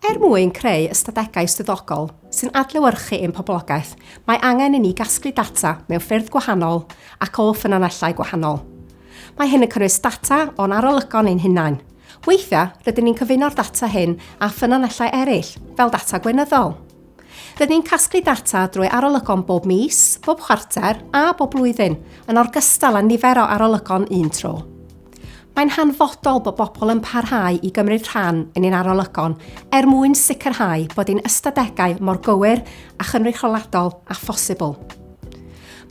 Er mwyn creu ystadegau swyddogol sy'n adlewyrchu ein poblogaeth, mae angen i ni gasglu data mewn ffyrdd gwahanol ac o ffynonellau gwahanol. Mae hyn yn cynnwys data o'n arolygon ein hunain. Weithiau, rydyn ni'n cyfuno'r data hyn â ffynonellau eraill, fel data gweinyddol. Rydyn ni'n casglu data drwy arolygon bob mis, bob chwarter a bob blwyddyn, yn orgystal â nifer o arolygon un tro. Mae'n hanfodol bod bobl yn parhau i gymryd rhan yn ein arolygon er mwyn sicrhau bod ein ystadegau mor gywir a chynrychioladol â phosibl.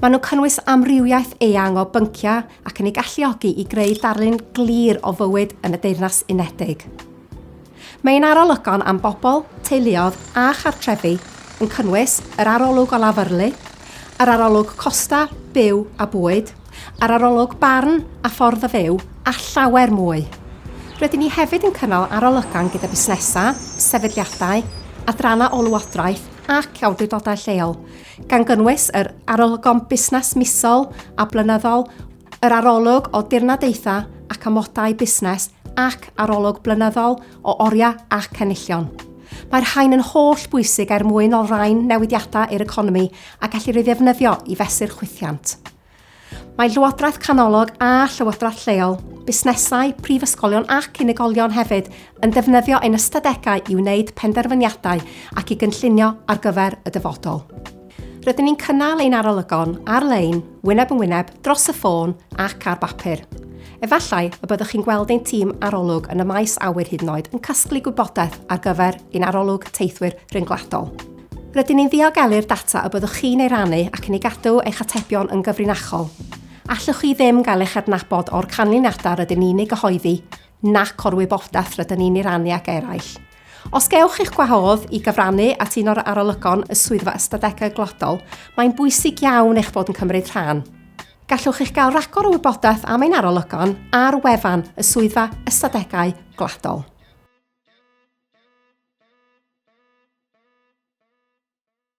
Maen nhw'n cynnwys amrywiaeth eang o bynciau ac yn ei galluogi i greu darlun glir o fywyd yn y Deyrnas Unedig. Mae ein arolygon am bobl, teuluoedd a chartrefi yn cynnwys yr arolwg o lafyrlu, yr arolwg costau, byw a bwyd, yr arolwg barn a ffordd o fyw a llawer mwy. Rydyn ni hefyd yn cynnal arolygon gyda busnesau, sefydliadau, adrannau ôl-lywodraeth ac awdurdodau lleol, gan gynnwys yr arolygon busnes misol a blynyddol, Yr arolwg o dirnadaethau ac amodau busnes ac arolwg blynyddol o oriau ac enillion. Mae'r rhain yn holl bwysig er mwyn olrhain newidiadau i'r economi a gellir ei ddefnyddio i fesur chwithiant. Mae Llywodraeth Canolog a Llywodraeth Lleol, busnesau, prifysgolion ac unigolion hefyd yn defnyddio ein ystadegau i wneud penderfyniadau ac i gynllunio ar gyfer y dyfodol. Rydyn ni'n cynnal ein arolygon ar-lein, wyneb yn wyneb, dros y ffôn ac ar bapur. Efallai y byddwch chi'n gweld ein tîm arolwg yn y maes awyr hyd yn oed yn casglu gwybodaeth ar gyfer ein arolwg teithwyr rhyngwladol. Rydyn ni'n ddiogelu'r data y byddwch chi'n ei rannu ac yn ei gadw eich atebion yn gyfrinachol. Allwch chi ddim gael eich adnabod o'r canlyniadau rydyn ni'n eu gyhoeddi, nac o'r wybodaeth rydyn ni'n ei rannu ag eraill. Os gewch eich gwahodd i gyfrannu at un o'r arolygon y Swyddfa Ystadegau Gwladol, mae'n bwysig iawn eich bod yn cymryd rhan. Gallwch eich gael rhagor o wybodaeth am ein arolygon ar wefan y Swyddfa Ystadegau Gwladol.